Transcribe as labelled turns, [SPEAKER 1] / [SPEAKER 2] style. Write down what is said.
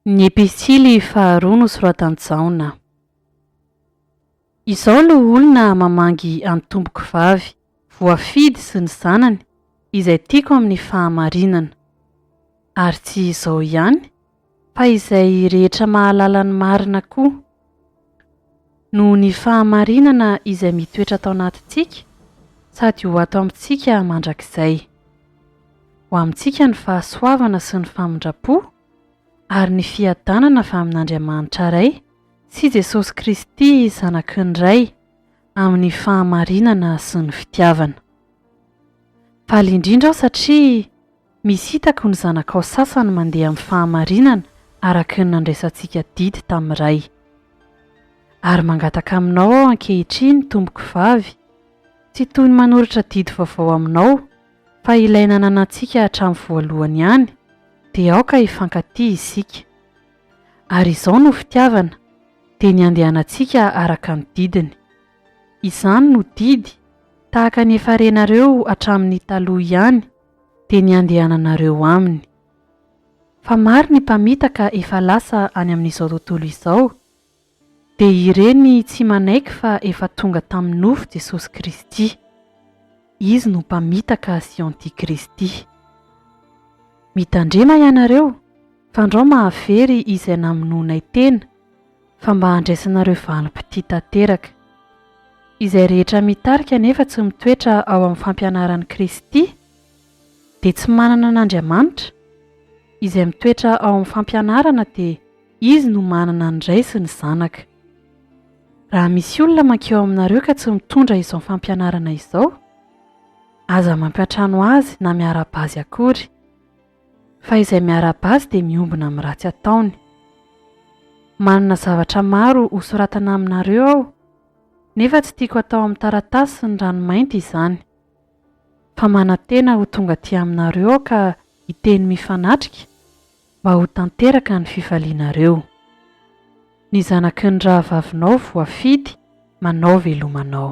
[SPEAKER 1] Ny Epistily faharoa nosoratan'i Jaona. Izao no olona mamangy an'i Tompoko Vavy, voafidy sy ny zanany, izay tiako amin'ny fahamarinana. Ary tsy izao ihany, Fa izay rehetra mahalala ny marina koa. Noho ny fahamarinana izay mitoetra ato anatintsika sady ho ato amintsika mandrakizay. Ho amintsika ny fahasoavana sy ny famindram-po ary ny fiadanana avy amin'Andriamanitra Ray sy Jesosy Kristy Zanaky ny Ray amin'ny fahamarinana sy ny fitiavana. Faly indrindra aho satria Misy hitako ny zanakao sasany mandeha amin'ny fahamarinana araka ny nandraisantsika didy tamin'ny Ray. Ary mangataka aminao aho ankehitriny, Tompoko Vavy, tsy toy ny manoratra didy vaovao aminao, fa ilay nananantsika hatramin'ny voalohany ihany, dia aoka hifankatia isika. Ary izao no fitiavana, dia ny handehanantsika araka ny didiny. Izany no didy, tahaka ny efa renareo hatramin'ny taloha ihany, dia ny handehananareo aminy. Fa maro ny mpamitaka efa lasa any amin'izao tontolo izao, dia ireny tsy manaiky fa efa tonga tamin'ny nofo Jesosy Kristy. Izy no mpamitaka sy antikristy. Mitandrema ianareo, fandrao mahavery izay namonoanay tena, fa mba handraisanareo valim-pitia tanteraka. Izay rehetra mitarika nefa tsy mitoetra ao amin'ny fampianaran'i Kristy dia tsy manana an'Andriamanitra, izay mitoetra ao amin'ny fampianarana dia izy no manana ny Ray sy ny Zanaka. Raha misy olona mankeo aminareo ka tsy mitondra izao fampianarana izao, aza mampiantrano azy na miara-bazy akory. Fa izay miarahaba azy dia miombona amin'ny ratsy ataony. Manana zavatra maro hosoratana aminareo aho, nefa tsy tiako hatao amin'ny taratasy sy ny ranomainty izany. Fa manantena ho tonga aty aminareo aho ka hiteny mifanatrika, mba ho tanteraka ny fifalianareo. Ny zanaky ny rahavavinao voafidy manao veloma anao.